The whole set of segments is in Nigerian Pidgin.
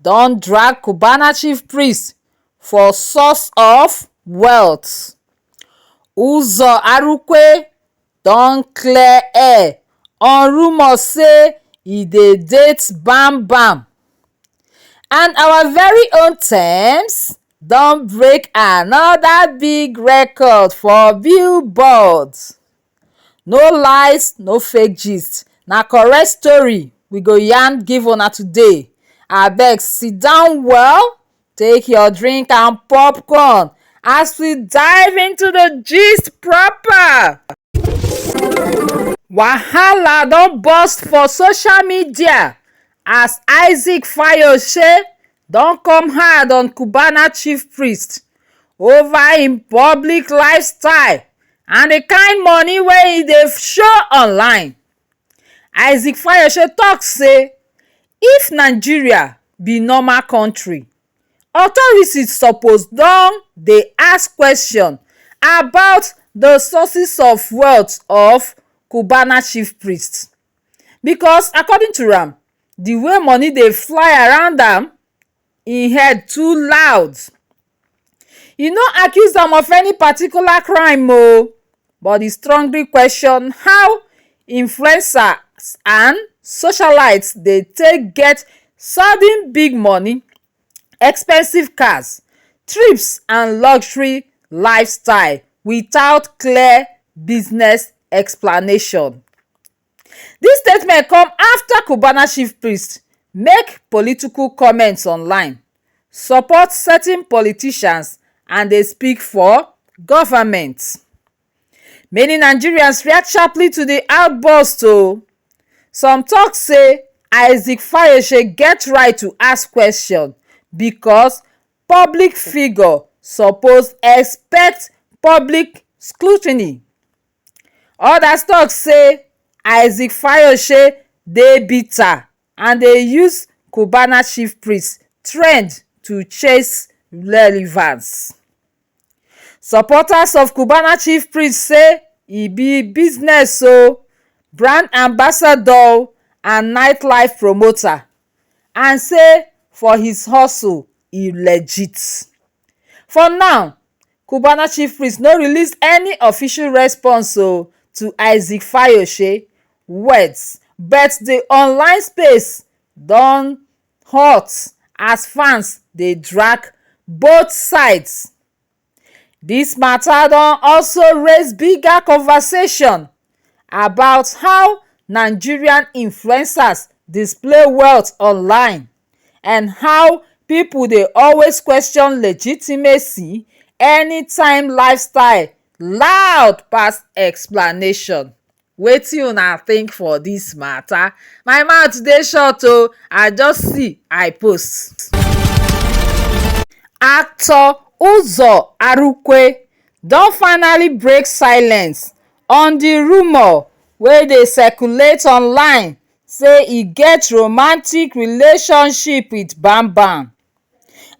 don drag cubana chief priest for source of wealth uzo arukwe don clear air on rumours say e dey date bam bam and our very own tems don break anoda big record for billboard. no lies no fake gist na correct story we go yarn give una today abeg siddon well take your drink and popcorn as we dive into the gist proper. wahala don burst for social media as isaac fayose don come hard on cubana chief priest over im public lifestyle and di kain money wey e dey show online. Isaac Fayose talk say if Nigeria be normal country, authorities suppose don dey ask question about di sources of wealth of cubana chief priest. because according to am the way money dey fly around am e head too loud e no accuse am of any particular crime o but e strongly question how influencers and socialites dey take get sudden big money expensive cars trips and luxury lifestyle without clear business explanation. dis statement come afta cubana chief priest make political comments online support certain politicians and dey speak for govment. many nigerians react sharply to di outburst o some tok say isaac fareshe get right to ask kwesion becos public figure suppose expect public scrutiny odas tok say isaac fareshe dey bitter. and dey use cubana chief priest trend to chase relevance. Supporters of cubana chief priest say e be business o, brand ambassador o and night life promoter and say for his hustle e legit. For now, Cubana chief priest no release any official response o to Isaac Fayose words but the online space don hot as fans dey drag both sides. This matter don also raise bigger conversation about how Nigerian influencers display wealth online. and how people dey always question legitimacy anytime lifestyle loud pass explanation wetin una think for this matter? my mouth dey short oo i just see i post actor Uzor Arukwe don finally break silence on the rumour wey dey circulate online say e get romantic relationship with bambam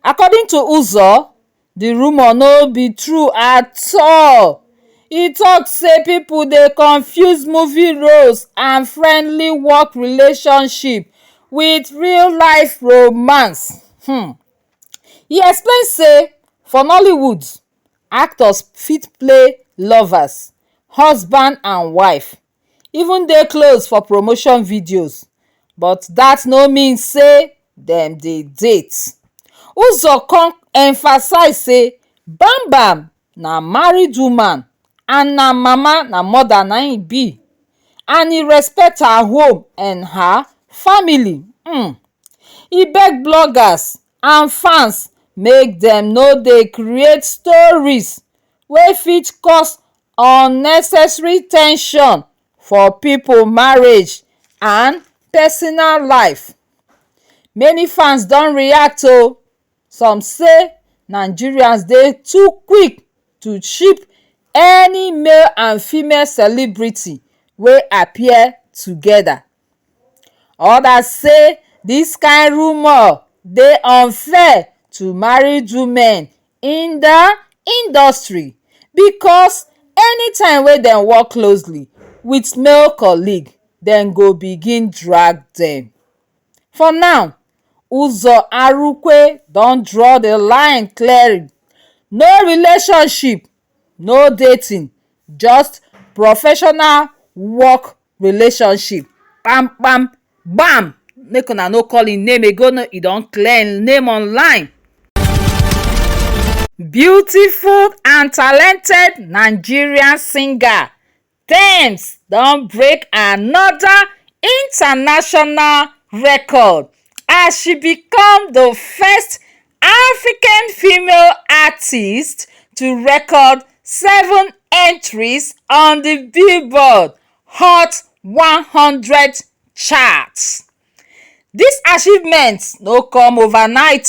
according to uzo di rumour no be true at all e tok say pipo dey confuse movie roles and friendly work relationship with real life romance um e explain say for nollywood actors fit play lovers husband and wife even dey close for promotion videos but dat no mean say dem dey date. Uzor come emphasize say Bam Bam na married woman and na mama na mother na im e be and e respect her home and her family um e beg bloggers and fans make dem no dey create stories wey fit cause unnecessary ten sion for pipo marriage and personal life many fans don react o some say nigerians dey too quick to ship any male and female celebrity wey appear togeda. odas say dis kain rumour dey unfair to married women in di industry becos anytime wey dem work closely wit male colleague dem go begin drag dem for now uzo arukwe don draw di line clear no relationship no dating just professional work relationship kpam kpam bam make una no call him name again o e don clear him name online. Beautiful and talented Nigerian singer Tems don break another international record as she become di first african female artiste to record seven entries on di billboard hot one hundred chart dis achievement no come overnight.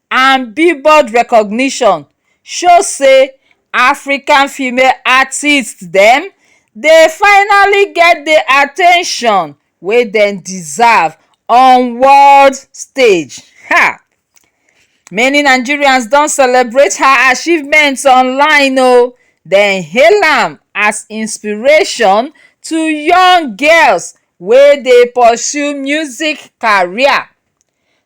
and Billboard recognition show say African female artists dem dey finally get the at ten tion wey dem deserve on world stage. um Many Nigerians don celebrate her achievements online o, dem hail am as inspiration to young girls wey dey pursue music career.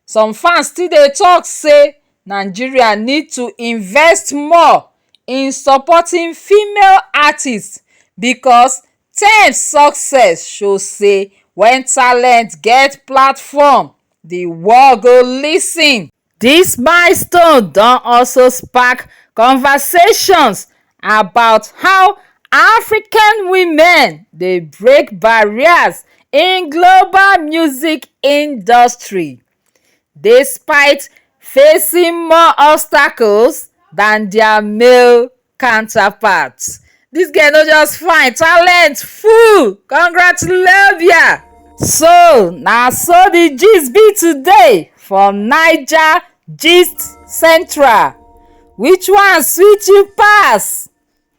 some fans still dey talk say nigeria need to invest more in supporting female artists because tems success show say when talent get platform di world go lis ten. dis milestone don also spark conversations. about how african women dey break barriers in global music industry despite facing more obstacles dan dia male counterparts. Dis girl no just fine, talent full! Congratulations! So na so the gist be today for Naija GistCentral, Which one sweet you pass?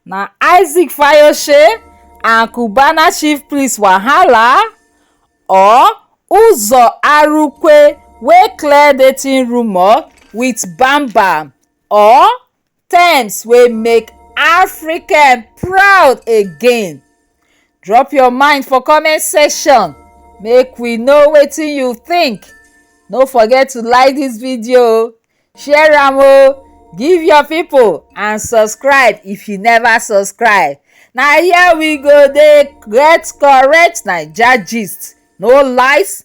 Na Isaac Fayose and Cubana chief priest wahala or Uzo Arukwe wey clear dating rumour with Bam Bam or terms wey make african proud again drop your mind for comment section make we know wetin you think no forget to like this video share am o give your people and subscribe if you never subscribe na here we go dey get correct naija gist no lies